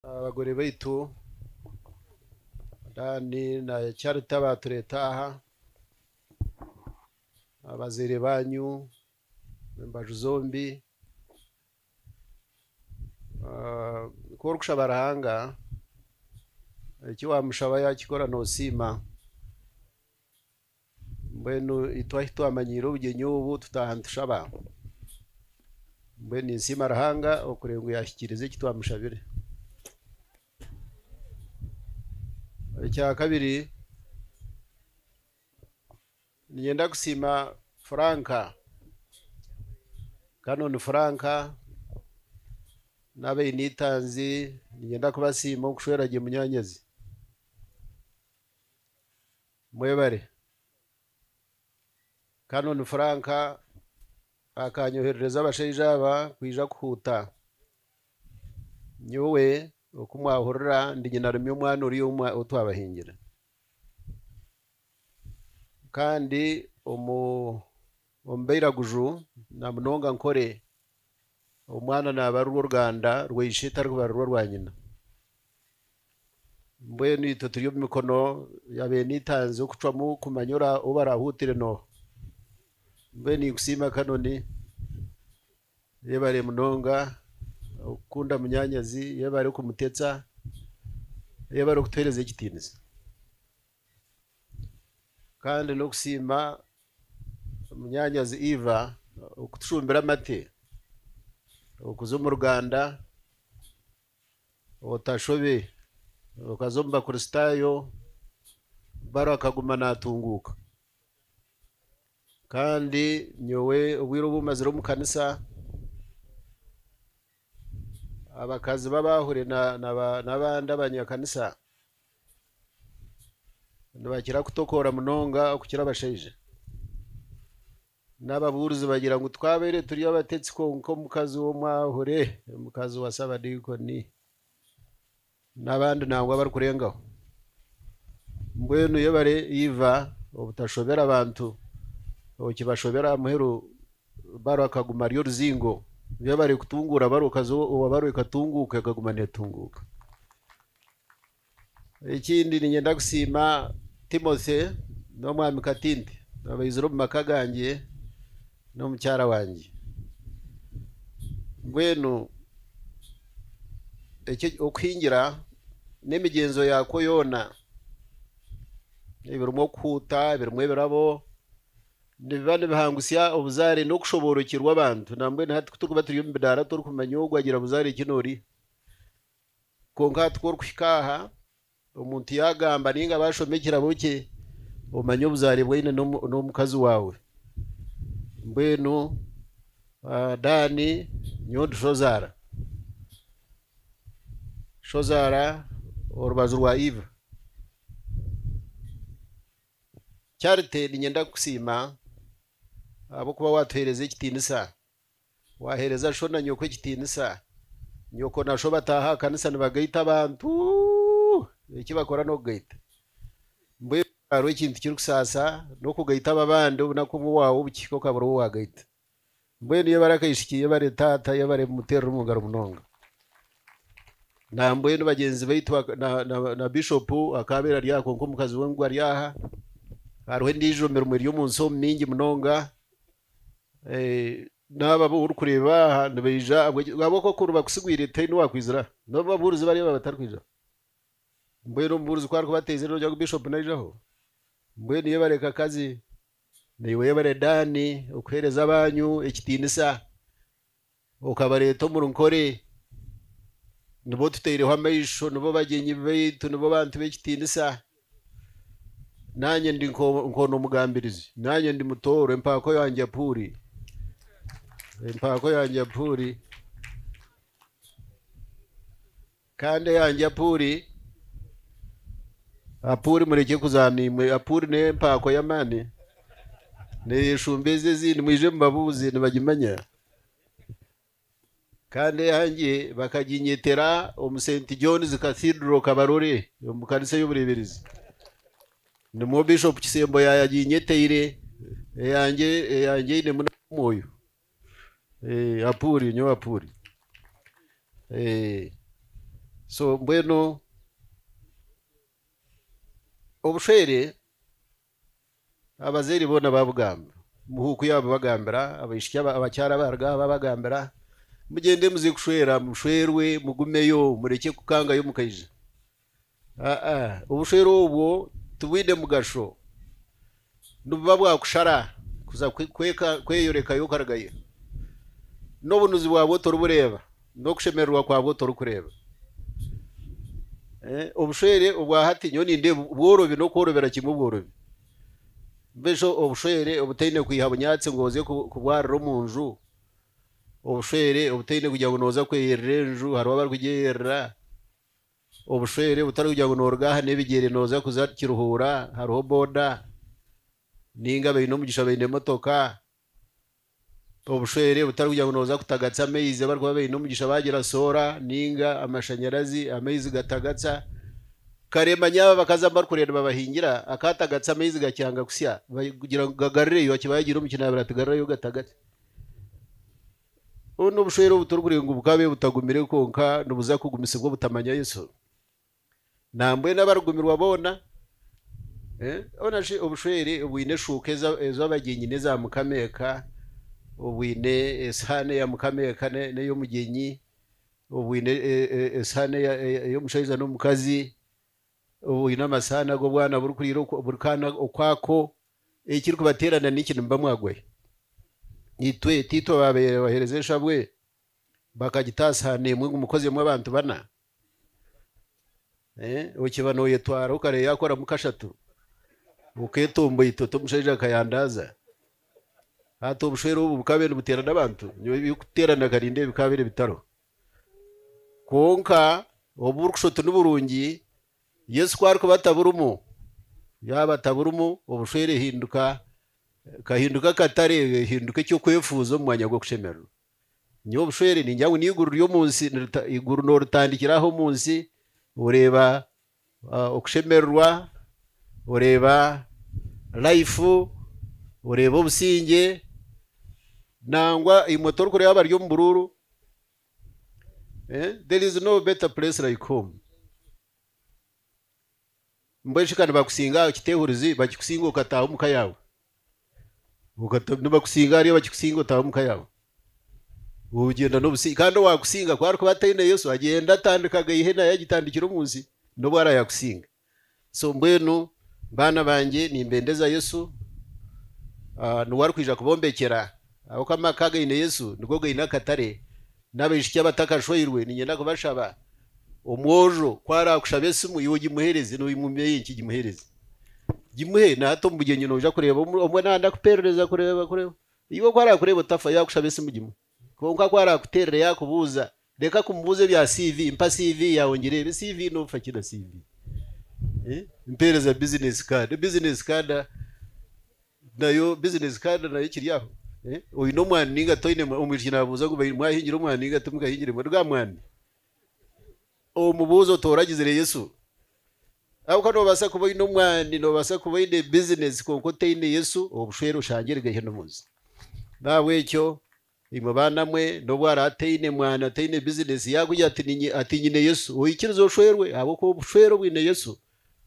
Abagore baitu Dan na Charity abaatureta aha, abazaire baanyu embaju zombi, ah, ku orikushaba Ruhanga eki waamushaba yaakikora noosiima. Mbwenu itwe ahi twamanyiire obugyenyi obu, tutaaha nitushaba. Mbwenu ninsiima Ruhanga okureeba ngu yaahikiriza eki twamushabire. Ekyakabiri, niinyenda kusiima Frank, Canon Frank n'abainitanzi niinyenda kubasiima okushwera gye munyaanyazi. Mwebare. Canon Frank akanyoherereza abashaija aba kwija kuhuuta. Nyowe, oku mwahurira, ndi nyinarumya omwana ori omwe ou twabahingire. Kandi omu Omu bairaguju, namunonga nkore, omwana naaba ari rw'oruganda rwa ishe tari kubarira orwa nyina. Mbwenu itwe turi omu mikono ya beene itanzi okucwamu kumanya ora ou barahuutire n'oha. Mbwenu ninkusiima Canon. Yebare munonga okukunda munyaanyazi, yebare kumutetsa, yebare okutuheereza ekitiinisa. Kandi n'okusiima munyaanyazi Eva okutushumbira amate. Okuza omu Ruganda otashobe okaza omu Bakristaayo baro akaguma naatunguuka. Kandi nyowe obwire obu mazire omu kanisa abakazi b'abaahure n'abandi abanyakanisa nibakira kutokoora munonga okukira abashaija. N'ababuurizi bagira ngu twabaire turi abatetsi kwonka omukazi w'omwahure, omukazi wa Sabadiikoni n'abandi nangwa abarikurengaho. Mbwenu yebare iva obutashobera abantu okibashobera aha muheru baaro akaguma ari oruzingo. Yebare kutunguura baaro owabaaro ekatunguuka ekaguma neetunguuka. Ekindi niinyenda kusiima Timothy n'omwami Katinte abaizire omu maka gangye n'omukyara wangye. Mbwenu eki okuhingira n'emigyenzo yaakwo yoona ebirimu okuhuuta, ebirimu ebirabo nibiba nibihangutsya obuzaare n'okushoboorokyerwa abantu nambwenu hati ku turikuba turi omu bidaara torikumanya ogu agira buzaare ki n'ori. Kwonka hati ku orikuhika aha, omuntu yaagamba nainga baashoma ekirabo kye, omanye obuzaare bu aine n'omukazi waawe. Mbwenu Daani, nyowe ndi shozaara, shozaara orubaju rwa Iva. Charity niinyenda kukusiima ahabw'okuba waatuheereza ekitiinisa. Waaheereza sho na nyoko ekitiinisa. Nyoko na sho bataaha aha kanisa nibagaita abantu. Eki bakora n'okugaita. Mbwenu hariho ekintu kirikusaasa n'okugaita ab'abandi obunaku obwo waawa obukihika okabura ou waagaita. Mbwenu yebare akaishiki, yebare taata, yebare muteerere omu ngaro munonga. Nambwenu bagyenzi baitu na Bishopu akaabaire ari aha kwonka omukazi we ngu ari aha. Hariho endiijo mirimo eri omu nsi omu mingi munonga. N'abo abu orikureeba aha nibaija ahabw'oku okwo nibakusigwire tihaine owaakwizire aha. N'obu ababuurizi bariya baaba batarikwija aha. Mbwenu omubuurizi ku arikubateezera noogira ngu Bishop naijaho. Mbwenu yebare kakazi, naiwe yebare Dan, okuheereza abaanyu ekitiinisa. Okabareeta omuri nkore, nibo tutaireho amaisho, nibo bagyenyi baitu, nibo bantu b'ekitiinisa. Naanye ndi nk'onu omugambirizi, naanye ndi mutooro, empaako yangye Apuuri, empaako yangye Apuuri. Kandi eyangye Apuri, Apuri, murekye kuzaana imwe, Apuri n'empaako y'amaani, neeshumba ezi ezindi, mwije mubabuuze, nibagimanya. Kandi eyangye bakaginyetera omu Saint John's Cathedral Kabarore, omu kanisa ey'obureeberezi, nimwo Bishop Kisembo yaayaginyeteire, eyangye, eyangye einemu n'akoomwoyo. Eh, Apuri, nyowe Apuri. Eh, so mbwenu obushwere abazaire boona babugamba muhuuku yaabo bagambira abaishiki aba- abakyara abaruga aha babagambira mugyende muze kushwera mushwerwe mugumeyo murekye kukangayo mukaija Obushwere obwo tibwine mugasho, nibuba bwakushara kuza kweyorekayo okaragayo, n'obunuzi bwabwo toribureeba, n'okushemererwa kwabwo torikureeba. Eh, obushwere obwa hati nyowe nindeeba bworobi n'okworobera kimwe obworobi. Mbwenu obushwere obutaine kwiha bunyaatsi ngu oze kubwarira omu nju, obushwere obutaine kugira ngu noza kweyerera enju hariho abarikugyeyerera. Obushwere butari kugira ngu nooruga aha n'ebigyere nooza kuza Kiruhura hariho boda nainga abaine omugisha baine emotoka. Obushwere butari kugira ngu nooza kutagatsa amaizi abarikuba baine omugisha baagira soora nainga amashanyarazi amaizi gatagatsa. Kare manya aba abakazi abu barikureeba nibabahingira akaatagatsa amaizi gakyanga kutsya, bagira ngu gagarireyo akiba yaagiire omu kinaabiro ati garurayo gatagatse. Obu n'obushwere obu turikureengwa bukabe butagumire kwonka nibuza kugumisibwa obutamanya Yesu. Nambwenu abarikugumirwa boona, boona shi obushwere obwine eshuuka ezo abagyenyi n'eza mukama eka, obwine esihaani eya mukama eka n'ey'omugyenyi, obwine esihaani ey'omushaija n'omukazi, Oine amasaani agu obwana burikuriira buri kaana okwako, ekirikubateerana niki? Nimuba mwagwayo? Itwe tiitwe abaabaire baheereza eshabwe bakagita aha saani emwe ngu mukozeemu abantu bana? Okiba noyetwara okare yakoramu kashatu oketomboita oti omushaija akayandaaza. Hati obushwere obu bukaabaire nibuteerana abantu, nyowe ebirikuteerana kare nindeeba bikaabaire bitariho. Kwonka obu burikushusha oti niburungi, Yesu ku arikuba ataburimu, yaaba ataburimu, obushwere ehinduka ekahinduka akatare, ehinduka eky'okwefuuza omu mwanya gw'okushemererwa. Nyowe obushwere ningira ngu n'eiguru ry'omu nsi, nirita- eiguru nooritandikira aha omu nsi, oreeba Okushemererwa, oreeba life, oreeba obusingye nangwa imwe torikureeba abari omu buruuru there is no better place like home mbwenu shi ka nibakusinga aha kiti ehurizi bakikusinga okataaha omuka yaawe. nibakusinga hariyo abakikusinga otaaha omuka yaawe ogyenda nobusinge kandi owakusinga ku arikuba ataine yesu agyenda atandika gaihi naye agitandikire omu nsi nobu ara yakusinga so mbwenu baana bangye nimbendeza yesu ah, niwe arikwija kubombekyera ahabw'oku amaka againe yesu nigo gaine akatare N'abaishiki abatakashweirwe niinyenda kubashaba, omwojo ku araakushaba esimu iwe ogimuheereze, noogimumeeya enki gimuheereze. Gimuhe na hati omu bugyenyi nooja kureeba omwe naaba ndakupeerereza kureeba kureeba. Iwe ku araakureeba otafa yaakushaba esimu gimuhe. Kwonka ku araakuteerera yaakubuuza reka kumubuuza ebya CV, mpa CV yaawe ngireebe. CV noofa ki na CV? Mpeereza bizineesi kaada. Bizineesi kaada Nayo bizinesi kandi nayo kiri aho. Oine omwani ninga toine mwani. Omwishiki nabuuza ngu mwahingire omwani ninga timukahingire mwani. Ruga mwani. Omubuuzo otooragizire Yesu. Ahabw'okuba noobaasa kuba oine omwani, noobaasa kuba oine bizinesi kwonka otaine Yesu, obushwere oshange erigaiha n'omuzi. N'ahabw'ekyo. Imwe baana mwe, n'obu araba ataine mwana, ataine bizineesi, yaakugira ati, Niinye, ati, Nyine Yesu, oikiriza oshwerwe, ahabw'okuba obushwere obwine Yesu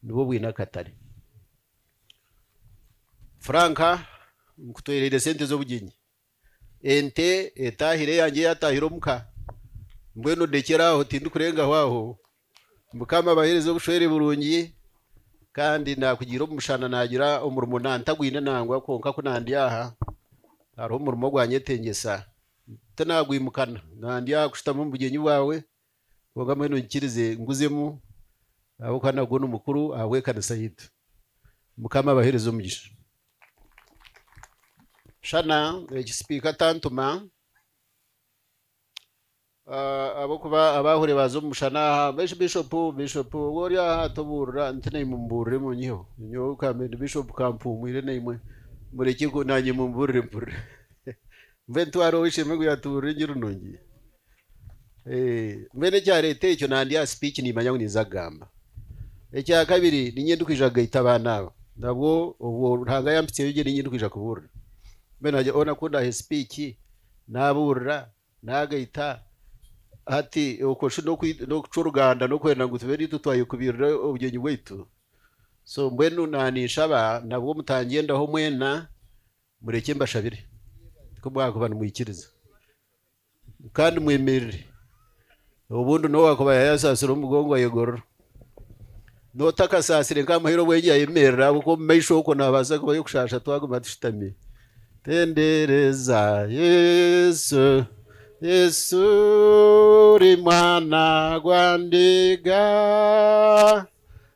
nibwo bwine akatare. Frank, Nkutwereire sente z'obugyenyi. Ente etaahire eyangye yaataahire omuka. Mbwenu ndekyera aho, tindikurengaho aho. Mukama abahereze obushwere burungi kandi nakugira omushana nagira omurimo nantagwine nangwa kwonka ku nandi aha hariho omurimo ogwanyetengyesa tinagwimukana nandi aha kushutama omu bugyenyi bwawe kwonka mbwenu nkirize nguzemu ahabwokuba nagwo nimukuru ahabwekanisa yaitu Mukama abahereze omugisha. Shana eki sipika atantuma. Ahabw'okuba abaahure baaza omu mushana aha. Mbwenu Bishopu, Bishopu, obu ori aha tobuurira nti naimwe mubuurire munyiheho. Nyowe ka mbe ndi Bishopu ka mpuumwire naimwe murekye ku naanye mumbuurire mpurire. Mbwenu twari ow'eishe-emwe ngu yaatubuurira engiri nungi? Mbwenu ekyareeta ekyo nandi aha sipiiki niimanya ngu ninza kugamba. Ekya kabiri niinye ndikwija kugaita abaana aba nabwo obwo Ruhanga yampitsyeyo gye niinye ndikwija kubuurira. Mbwenu naagira hoona ku ndaaha esipiiki naabuurira Naagaita ati, Okwo shi n'okucwa oruganda n'okwenda ngu tube naitwe twayekubirira obugyenyi bwaitu? So mbwenu ninshaba nabwo mutangyendaho mwena, murekye mbashabire, ku mwakuba nimwikiriza. Kandi mwemerire. Obundi n'ou akuba yaayasaasire omugongo ayegorora. N'otakasaasire nkamuhaire obwengye ayemerera ahabw'okuba omu maisho okwo naabaasa kubayo okushaasha twaguma tushutami. Tendereza Yesu, Yesu ori mwana gwa ndiga.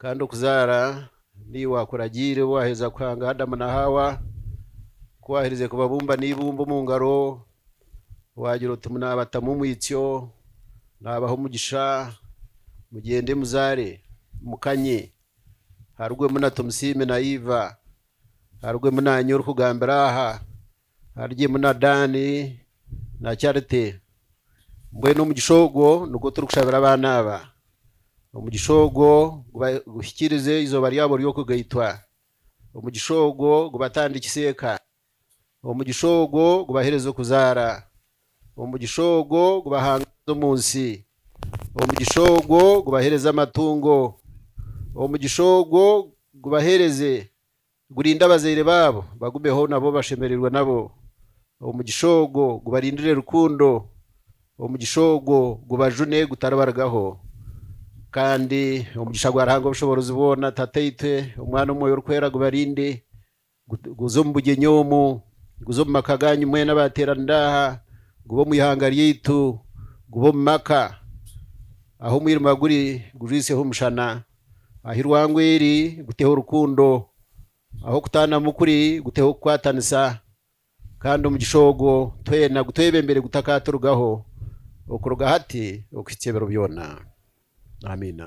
Kandi okuzaara niiwe akuragiire waaheza kuhanga Adamu na Haawa, ku waaherize kubabumba n'eibumba omu ngaro, waagira oti, Naabatamu omwitsyo, naabaha omugisha, mugyende muzaare, mukanye, harugwemu na Tomusiime na Iva, harugwemu naanye orikugambira aha, Arigimu na Daani na Chariti. Mbwenu omugisha ogwo nigwo turikushabira abaana aba. Omugisha ogwo guhikiirize eizooba ryabo ry'okugaitwa. Omugisha ogwo gubatandikise eka. Omugisha ogwo gubahereze okuzaara. Omugisha ogwo gubahangaaze omu nsi. Omugisha ogwo gubahereze amatungo. Omugisha ogwo gubahereze Gurinde abazaire baabo, bagumeho nabo bashemererwe nabo. Omugisha ogwo gubarindire rukundo, omugisha ogwo gubajune gutaribarugaho. Kandi omugisha gwa Ruhanga Obushoboorozi bwona, Tataitwe, Omwana, Omwoyo Orikwera gubarinde, guze omu bugyenyi omu, guze omu maka gaanyu mwena abaateeranira aha, gube omu ihanga ryaitu, gube omu maka. Ahu omwirima guri, gujwisyeho omushana. Aha irwango eri guteho rukundo, ahu okutaanamu kuri guteho okukwatanisa, kandi omugisha ogwo twena gutwebembere gutakaaturugaho okuruga hati okuhitsya ebiro byona. Amiina.